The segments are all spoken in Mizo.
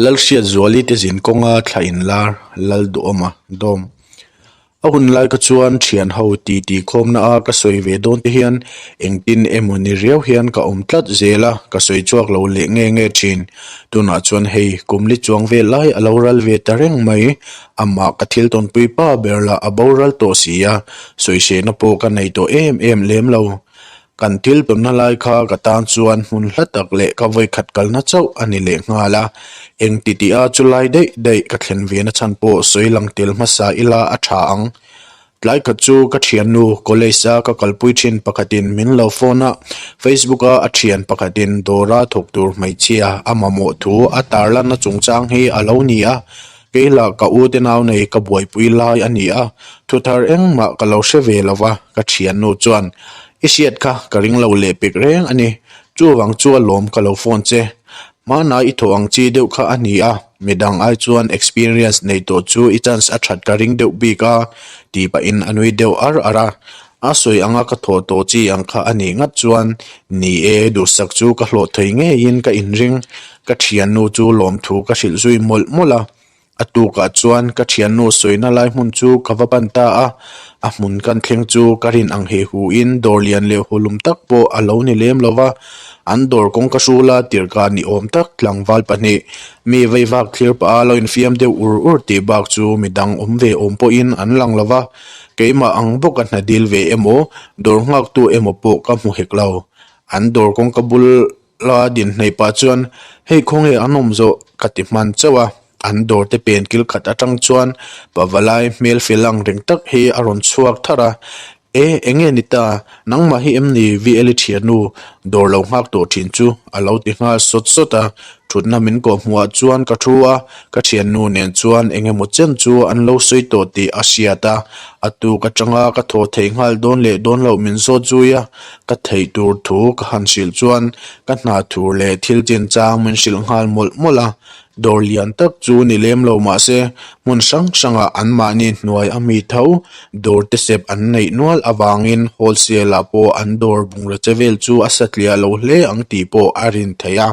Lal hriat zuali te zin kawnga thla in lar, lal duhawma dawm a hun lai ka chuan thian ho ti ti khawmna a ka sawi ve dawn te hian engtin emaw ni riau hian ka awm tlat zel a, ka sawi chhuak lo leh nge nge thin, tunah chuan hei kum li chuang vel lai alo ral ve ta reng mai, amah ka thil tawn pui pa ber lah a boral tawh si a, sawi sehna pawh ka nei tawh em em lem lo. Kan thil pemna lai kha ka tan chuan hmun hla tak leh ka vawikhat kalna chauh a ni leh nghal a, eng titih a chu lai daih daih ka thlen ve na chhan pawh sawi lang tel hmasa ila a tha ang. Tlai khat chu ka thiannu college a ka kalpui thin pakhatin min lo phone a, Facebook a a thian pakhatin dawra thawk tur hmeichhia a mamawh thu a tarlanna chungchang hi a lo ni a, Kei lah ka ute nau nei ka buaipui lai a ni a, thu thar engmah ka lo hre ve lo va, ka thiannu chuan. I hriat kha ka ring lo leh pek reng a ni. Chuvang chu a lawm ka lo phone che. Hmanah i thawh ang chi deuh kha a ni a, midang ai chuan experience nei tawh chu i chance a that ka ring deuh bik a, tih pahin a nui deuh ar ar a. A sawi anga ka thawh tawh chi ang kha a nih ngat chuan ni e, duhsak chu ka hlawh thei ngeiin ka inring. Ka thiannu chu lawmthu ka hrilh zui mawlh mawlh a. A tukah chuan ka thiannu sawina lai hmun chu ka va ban ta a, a hmun kan thleng chu ka rin ang he huin dawr lian leh hulum tak pawh a lo ni lem lo va. An dawr kawng ka hrula tirhka ni awm tak tlangval pahnih mi vaivak thlir paha lo infiam deuh ur ur tih bak chu midang awm ve awm pawhin an lang lo va. Keimah ang bawk a hna dil ve emaw, dawr nghaktu emaw pawh ka hmu hek lo. An dawr kawngka bula din hnaih pah chuan, Hei khawnge an awm zawh? ka ti hman chauh a. An dawrte pen kil khat atang chuan Pavalai hmelfel ang reng tak hi a rawn chhuak thar a, E, enge ni ta, nangmah hi em ni Vieli thianu dawr lo nghak tawh thin chu? a lo ti nghal sawt sawt a. Thutna min kawh hmuhah chuan ka thu a, ka thiannu nen chuan eng emaw chem chu an lo sawi tawh tih a hriat a, a tuk atanga ka thaw theih nghal dawn leh dawn loh min zawt zui a, ka theih tur thu ka han hrilh chuan ka hna thur leh thil chin chang min hrilh nghal mawlh mawlh a, dawr lian tak chu ni lem lo mahse hmun hrang hrangah anmahni hnuai a mi tho dawrte sep an neih nual avangin wholesale-ah pawh an dawr bungraw che vel chu a satliah lo hle ang tih pawh a rin theih a.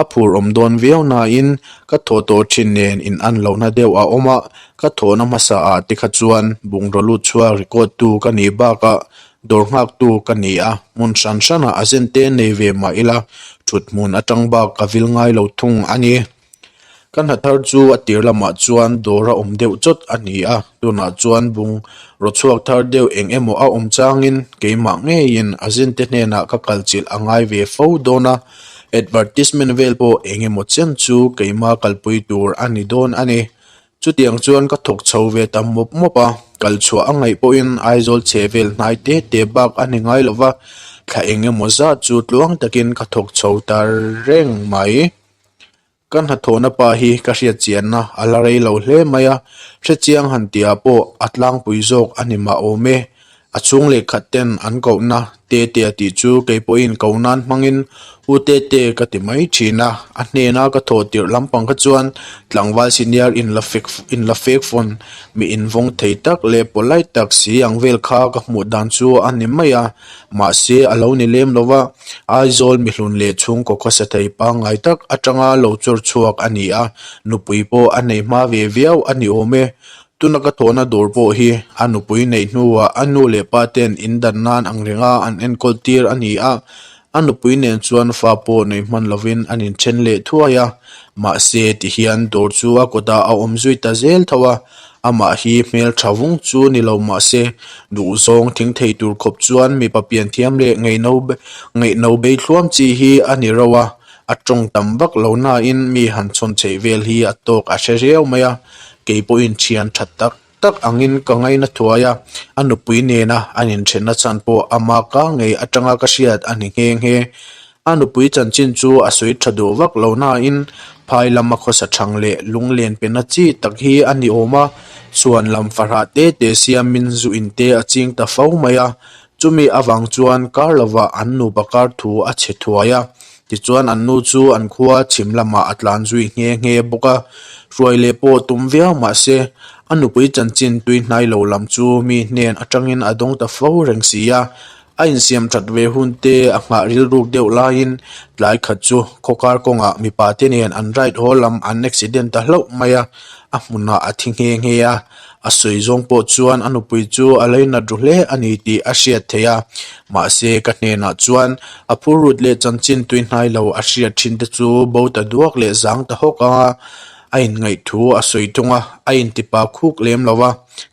A phur awm dawn viau nain ka thaw tawh thin nen in an lohna deuh a awm a, ka thawhna hmasa ah te kha chuan bungraw lut chhuar record tu ka nih bak a, dawr nghak tu ka ni a, hmun hran hran ah a zente nei ve mah ila thut hmun atang bak ka vil ngai lo thung a ni. Ka hnathar chu a tir lamah chuan dawr a awm deuh chawt a ni a, tunah chuan bungraw-chhuak thar deuh eng emaw a awm changin keimah ngeiin a zinte hnenah ka kalchilh a ngai ve fo dawn a. Advertisement vel pawh eng emaw chian chu keima kalpui tur a ni dawn a ni. Chutiang chuan ka thawk chho ve ta mawp mawp a, kal chhuah a ngaih pawhin Aizawl chhehvel hnai te te bak a ni ngai lova, thla eng emaw zat chu tluang takin ka thawk chho ta reng mai. Ka hnathawhna pa hi ka hriatchianna a la rei lo hle mai a, hrechiang han tia pawh a tlangpui zawk a ni mah awm e. A chhung leh khat ten an kohna Tete a tih chu kei pawhin ko nan hmangin U Tete ka ti mai thin a, a hnena ka thaw tirh lampang kha chuan tlangval senior in la fek in la fek fawn miin vawng thei tak leh polite tak si ang vel kha ka hmuh dan chu a ni mai a. Mahse, a lo ni lem lo va, Aizawl mihlun leh chhungkawka sathei pangngai tak atanga lo chawr chhuak a ni a, nupui pawh a neih hma ve viau a ni awm e. Tuna ka thawhna dûr pawh hi a nupui neih hnuah a nu leh pa ten in dan nân ang renga an enkawl tir a ni a, a nupui nen chuan fa pawh neih hman lovin an inthen leh thuai a, mahse, tihian dûr chu a kawtah a awm zui ta zêl tho a, Amah hi hmeltha vung chu ni lo mah se, duhzawng thing thei tur khawp chuan mipa pianthiam leh ngaihno ngaihno beithluam chi hi a ni reuh a, a tawng tam vak lo nain mi han chhawn theih vel hi a tawk a hre riau mai a, kei pawhin thian tha tak tak angin ka ngaina thuai a, a nupui nena an inthenna chhan pawh ama ka ngei atanga ka hriat a ni nghe nghe. A nupui chanchin chu a sawi tha duh vak lo nain phai lama khawsa chhang leh lunglen pena chi tak hi a ni awm a, suan lam fahrah te te siamin zu in te a ching ta fo mai a, chumi avang chuan kar lovah an nu pakar thu a chhe thuai a, tichuan an nu chu an khua chhim lamah a tlan zui nghe nghe bawk a, hruai leh pawh tum viau mah se a nupui chanchin tuihnai lo lam chu mi hnen atangin a dawng ta fo reng si a, A insiam ṭat ve hun te a nghah rilruk deuh laiin tlai khat chu khawkar kawngah mipa te nen an right haw lam an accident ta hlauh mai a, a hmunah a thi nghe nghe a, a sawi zawng pawh chuan a nupui chu a lei nat ru hle a ni tih a hriat theih a, mahse ka hnenah chuan a phurut leh chanchin tui hnai lo a hriat ṭhin te chu bo ta duak leh zang ta hawk anga a inngaih thu a sawi thung a, a intipa khuk lem lo va.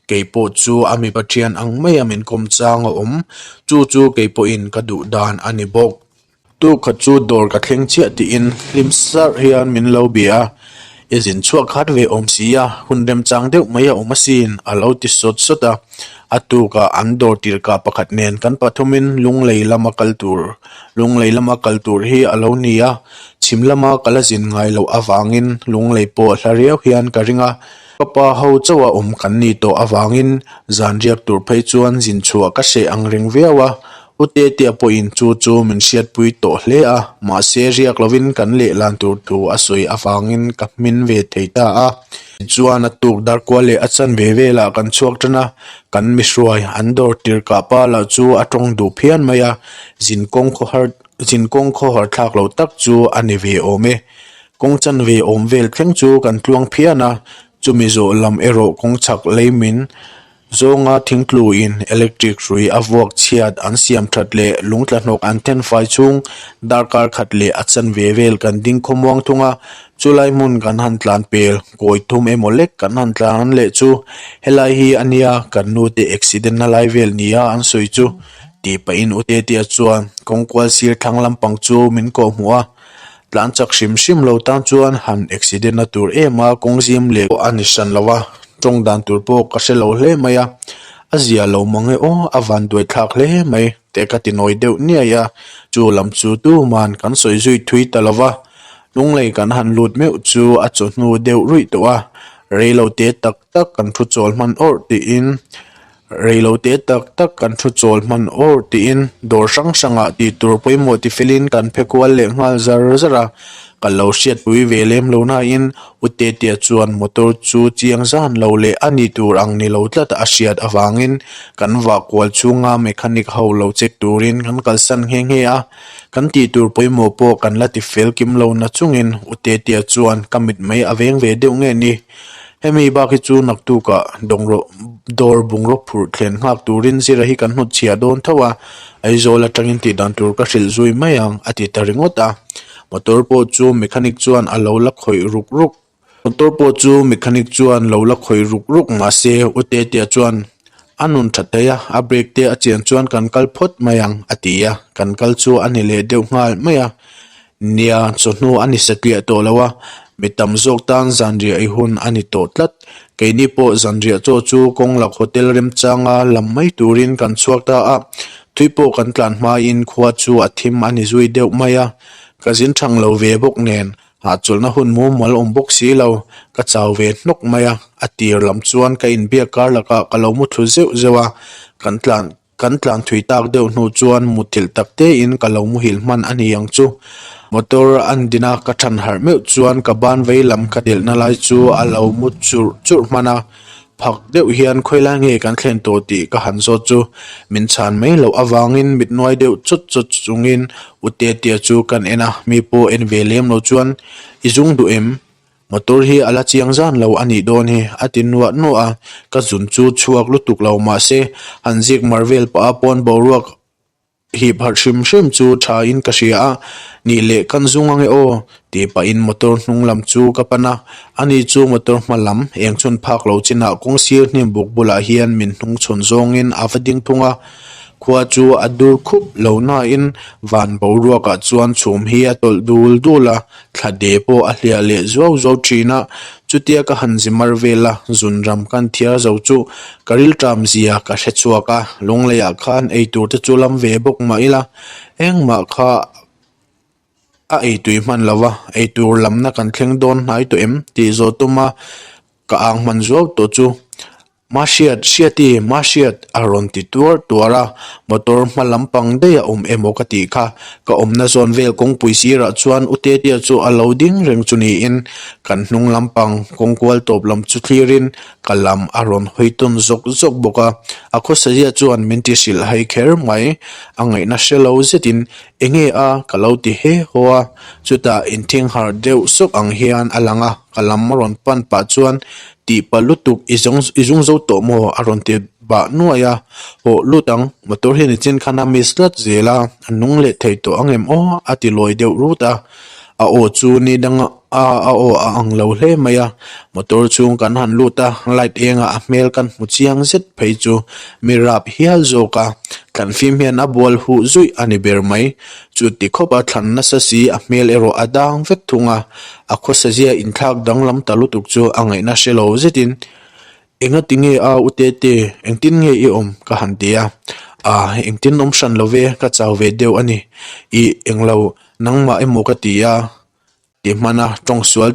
Keipawh chu a mi pathian ang mai a min kawm chang a awm. Chu chu keipawhin ka duh dan a ni bawk. Tu khat chu dawr ka thleng chiah tiin hlim sarh hian min lo bia a, i zin chhuah khat ve awm si a, hun rem chang deuh mai a awm asin, a lo ti sawt sawt a. A tukah an dawr tirhkah pakhat nen kan pathumin Lunglei lam a kal tur, Lunglei lam a kal tur hi a lo ni a, chhim lama ka la zin ngai loh avangin Lunglei pawh hla riau hian ka ring a. Ka pa ho chauh a awm kan ni tawh avangin zan riak tur phei chuan zin chhuah ka hreh ang reng viau a, U Tetia pawhin chu chu min hriatpui tawh hle a, mahse riak lovin kan lehlan tur thu a sawi avangin ka hmin ve thei ta a. Tichuan a tuk darkual leh a chanve velah kan chhuak tan a, kan mihruai an dawr tirh kah palah chu a tawng duh phian mai a, zin kawng khawhar Ichin kawng khaw harh thlak loh tak chu a ni ve awm e. Kawng chan ve awm vel thleng chu kan tluang phian a, chumi zawh lam erawh kawng chhak lei min zawnga thingtlu in electric hrui a vuak chhiat an siam that leh lungtla hnawk an then fai chung darkar khat leh a chan ve vel kan ding khaw muang thung a. Chulai hmun kan han tlan pel kawi thum emaw lek kan han tlan leh chu. Helai hi ania kan nute accident na lai vel nia an sawi chu. tih pahin u Tetiya chuan kawng kual sir thlang lampang chu min kawh hmu a, tlan chak hrim hrim lo tan chuan han accident a tur em a, kawng zim leh pawh a ni hran lo a, tawng dan tur pawh ka hre lo hle mai a, a zia lo mang e aw a van duai thlak hle mai teh ka ti nawi deuh niai a, chu lam chu tuman kan sawi zui thui ta lo va, lunglei kan han lut meuh chu a chawhnu deuh ruih tawh a, rei lo te tak tak kan thu chawl hman awrh tiin. Reilo te tak tak kan thu chawl hman awrh tiin dawr hrang hrangah tihtur pawimawh ti felin kan phe kual leh nghal zar zar a, ka lo hriatpui ve lem lo nain U Tetia chuan motor chu chiang zan lo leh a nih tur ang ni lo tlat a hriat avangin kan vah kual chhunga mechanic ho lo check turin kan kalsan nghe nghe a, kan tihtur pawimawh pawh kan la ti fel kim lo na chungin U Tetia chuan ka mit mai a veng ve deuh nge ni? Hemi bak hi chu naktuka dawngrawh dawr bungraw phurh thlen nghak turin zira hi kan hnawt chhiah dawn tho a, Aizawl atangin tih dan tur ka hrilh zui mai ang, a ti ta ringawt a. Motor pawh chu mechanic chuan a lo la khawih ruk ruk. Motor pawh chu mechanic chuan lo la khawih ruk ruk mahse u Tetea chuan a nun tha thei a, a brake te a chian chuan kan kal phawt mai ang, a ti a. Kan kal chu a ni leh deuh nghal mai a. Nia, chawhnu a ni satliah tawh lo a, mi tam zawk tan zanriah i hun a ni tawh tlat. Keini pawh zanriah chaw chu kawng lak hotel remchanga lam mai turin kan chhuak ta a, thui pawh kan tlan hmain khua chu a thim a ni zui deuh mai a. Ka zin thang lo ve bawk nen, hahchawlhna hun mumal awm bawk si lo, ka chau ve hnawk mai a, a tir lam chuan ka inbiak kar lakah ka lo mu thlu zeuh zeuh a, kan tlan Kan tlanthui tak deuh hnu chuan muthilh tak te in ka lo muhil hman a ni ang chu. Motor an din a ka than harh meuh chuan ka ban vei lam ka delh na lai chu a lo mu churh churh hman a. Phak deuh hian khawi lai nge kan thlen tawh tih ka han zawt chu. Min chhan mai loh avang in mit nuai deuh chawt chawt chung in u Tetia chu kan en a, mi pawh en ve lem lo chuan i zung duh em? Motor hi a la chiang zan lo a nih dawn hi, a ti nuah nuah a. Ka zun chu chhuak lutuk lo mah se, han zîk mar vêl paha pawn boruak hîp harh hrim hrim chu ṭha in ka hria a, Ni leh kan zung ange aw, tih pah in motor hnung lam chu ka pan a. A ni chu motor hma lam, eng chhun phâk lo chinah kawng sîr hnim buk bulah hian min hnung chhun zawng in a va ding thung a. Khua chu a dûr khup lo nain vân boruakah chuan chhûm hi a tawlh dûl dûl a, Thla de pawh a hliah leh zuau zuau thin a, chutia ka han zimar vel a, zun ram kan thiar zo chu ka rilṭam zia ka hre chhuak a, lungleiah khan eitur te chu lam ve bawk mah ila, engmah kha a ei tui hman lo a, eitur lamna kan thleng dawn hnai tawh em? tih zawh tuma ka ang hman zuau tawh chu. Mah hriat hriat i, mah hriat a rawn ti tuar tuar a, motor hma lampang daih a awm emaw ka tih kha. Ka awmna zawn vel kawngpui sirah chuan u Tetia chu a lo ding reng chu niin kan hnung lampang kawng kual tawp lam chu thlirin ka lam a rawn hawi tawn zawk zawk bawk a. A khawsazia chuan min ti hrilh hai kher mai, a ngaihna hre lo zetin, Enge a? ka lo ti he haw a, chutah inthinghar deuh sawk ang hian a lang a. Ka lam a rawn pan pah chuan, Tih palh lutuk, i zawng i zung zo tawh maw? a rawn ti bah nuai a. Hawh lut ang, motor hian i chen khan a miss tlat zel a, a nung leh thei tawh ang em aw? a ti lawi deuh rut a. A aw chu ni dang a a aw a ang lo hle mai a. Motor chhung kan han lut a, light engah a hmel kan hmu chiang zet phei chu mi rap hial zawk a, tlanhfim hian a bual huh zuih a ni ber mai. Chu ti khawp a, thlan nasa si, a hmel erawh a dang vek thung a, a khawsazia inthlak danglam ta lutuk chu a ngaihna hre lo zetin, Enga ti nge a u Tete, engtin nge i awm? ka han ti a, Ah, engtin awm hran lo ve, ka chau ve deuh a ni, i englo nangmah emaw ka ti a, ti hmana tawng sual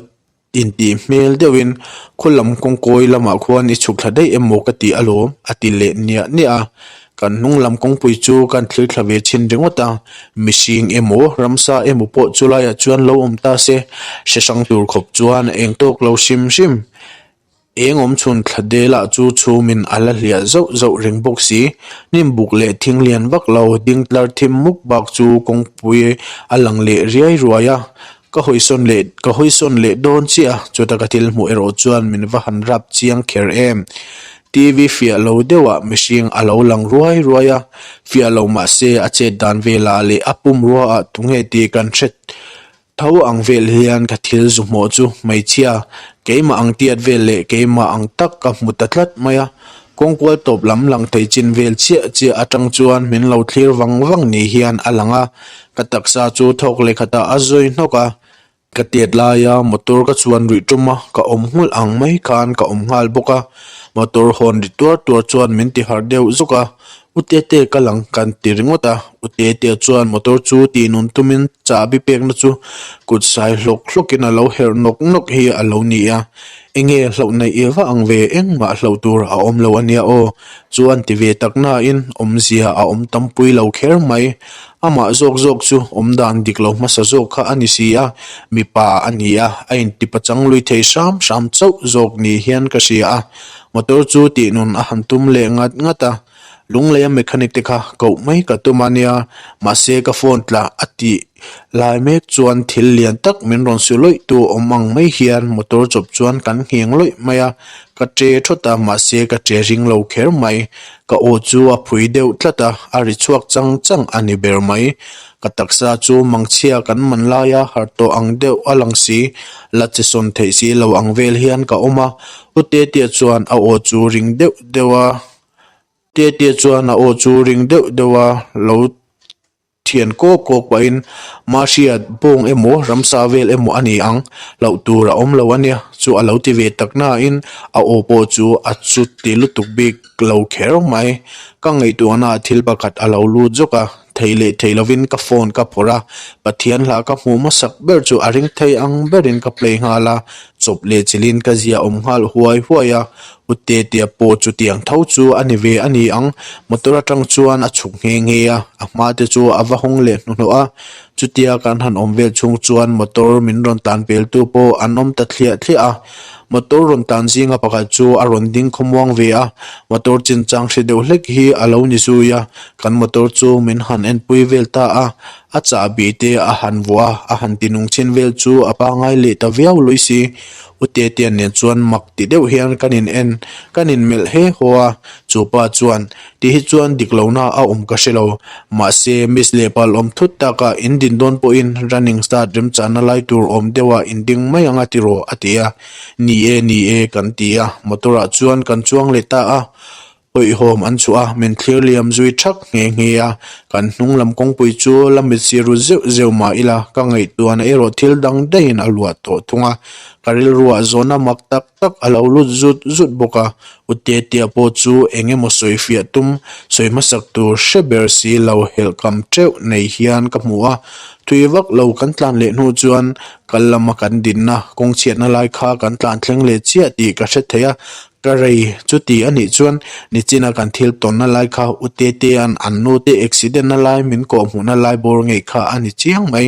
Intih hmel deuhin khaw lam kawngkawi lamah khuan i chhuk thla daih emaw ka ti alawm, a ti leh niah niah a. Kan hnung lam kawngpui chu kan thlir thla ve chin ringawt a, mihring emaw ramsa emaw pawh chu laiah chuan lo awm ta se, hre hrang tur khawp chuan a eng tawk lo hrim hrim. Eng awm chhun thla delah chu chhungin a la hliah zauh zauh reng bawk si. Hnim buk leh thing lian vak lo, ding tlar thim muk bak chu kawngpui a lang leh riai ruai a. Ka hawisawn leh, ka hawisawn leh dawn chiah, chuta ka thil hmuh erawh chuan min va han rap chiang kher em. TV fiah lo deuhah mihring a lo lang ruai ruai a, fiah loh mahse a chet dan velah leh a pum ruaah tunge tih kan hre Tho ang vel hian ka thil zu hmawh chu hmeichhia keimah ang tiat vel leh keimah ang tak ka hmu ta tlat mai a. Kawng kual tawp lam lang thei chin vel chiah chiah atang chuan min lo thlir vang vang nih hian a lang a. Ka taksa chu thawk leh khatah a zawi hnawk a. Ka tiat laia motor ka chuan rih tum a, ka awm nghulh ang mai khan ka awm nghal bawk a. Motor hawn ri tuar tuar chuan min ti harh deuh zawk a, U Tete ka lang kan ti ringawt a, U Tete chuan motor chu tihnun tumin chahbi pekna chu kut sai hlawk hlawkin a lo herh nawk nawk hi a lo ni a, Enge hlauh naih i va ang ve, engmah hlauh tur a awm lo a nia aw? chu an ti ve tak nain awmzia a awm tampui lo kher mai. Amah zawk zawk chu awm dan dik lo hmasa zawk kha a ni si a, mipa a nia a intipa chang lui thei hram hram chauh zawk ni hian ka hria a, Motor chu tihnawn a han tum leh ngat ngat a, Lunglei a mechanic te kha koh mai ka tum ania, mahse ka phone tla a tih lai mek chuan thil lian tak min rawn suh loih tu awm ang mai hian motor chawp chuan kan ngheng loih mai a, ka che thawt a mahse ka che ring lo kher mai, ka aw chu a phui deuh tlat a, a ri chhuak chang chang a ni ber mai, ka taksa chu mangchhia kan man laia har tawh ang deuh a lang si la, chi sawn theih si lo ang vel hian ka awm a, Pu Tetia chuan a aw chu ring deuh deuh a, Tetia chuan a aw chu ring deuh deuh a lo thian kawk kawk pahin ma hriat bawng emaw ramsa vel emaw a ni ang loh tur a awm lo a nia chu a lo ti ve tak nain a aw pawh chu a chut tih lutuk bik lo kher mai. Ka ngaihtuahnaah thil pakhat a lo lut zawk a, Thei leh thei lovin ka phone ka phawrh a, Pathian hla ka hmuh hmasak ber chu a ring thei ang berin ka play nghal a, chawp leh chilhin ka zia awm nghal huai huai a, U Tetia pawh chutiang tho chu a ni ve a ni ang, motor atang chuan a chhuk nghe nghe a, a hma te chu a va hawng leh hnuhnawh a, chutia kan han awm vel chhung chuan motor min rawn tlan veltu pawh an awm ta thliah thliah a, Motor rawn tan zinga pakhat chu a rawn ding khawmuang ve a, motor chinchang hre deuh hlek hi a lo ni zui a, kan motor chu min han enpui vel ta a, a chahbi te a han vuah a, a han ti nung chin vel chu a pangai leh ta viau lui si. U Tetian nen chuan mak ti deuh hian kan in en, kan in melh he haw a, chu pa chuan Tih hi chuan dik lo na a awm ka hre lo. Mahse, miss leh pal awm thut tak ah in din dawn pawh in running start remchahna lai tur awm deuh ah in ding mai ang a ti rawh a ti a. Ni e, ni e kan ti a, motor ah chuan kan chuang leh ta a. Hawihawm an chhuah a, min thlir liam zui thak nghe nghe a. Kan hnung lam kawngpui chu la mit si ru zeuh zeuh mah ila ka ngaihtuahna erawh thil dang daiin a luah tawh thung a. Ka rilruah zawhna mak tak. tak a lo lut zut zut bawk a, U Tetia pawh chu eng emaw sawi fiah tum, sawi hmasak tur hre ber si lo helh kam ṭeuh nei hian ka hmu a. Thui vak lo kan tlan leh hnu chuan kal lama kan dinna kawng chhiatna lai kha kan tlan thleng leh chiah tih ka hre thei a. Ka rei chuti a nih chuan nichina kan thil tawnna lai kha U Tetia'n an nute accident-na lai min kawhhmuhna lai bawr ngei kha a ni chiang mai.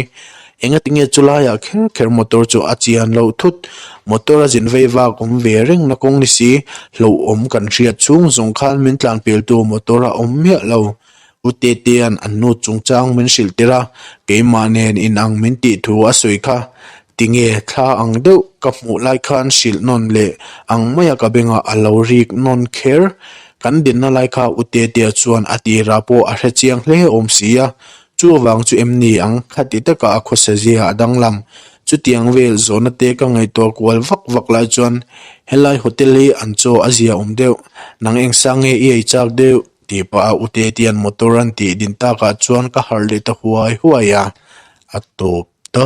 Enga tinge chu laiah kher kher motor chu a chian loh thut. Motor a zin vei vak awm ve reng na kawng ni si. Hlauhawm kan hriat chhung zawng khan min tlanpel tu motor a awm miah lo. U Tete'n an nu chungchang min hrilh tir a, keimah nen inang min tih thu a sawi kha. Tinge thla ang deuh ka hmuh lai khan hrilh nawn leh ang maia ka bengah a lo rik nawn kher. Kan dinna lai kha U Tetea chuan a tira pawh a hre chiang hle awm si a, Chu avang chu em ni ang, kha ti takah a khawsa zia a danglam. Chutiang vel zawhna te ka ngaihtuah kual vak vak lai chuan, Helai hotel hi an chaw a zia awm deuh, nang engsak nge i ei chak deuh? tih pah a Utetian motor an tih din takah chuan ka harh leh ta huai huai a, a tawp ta.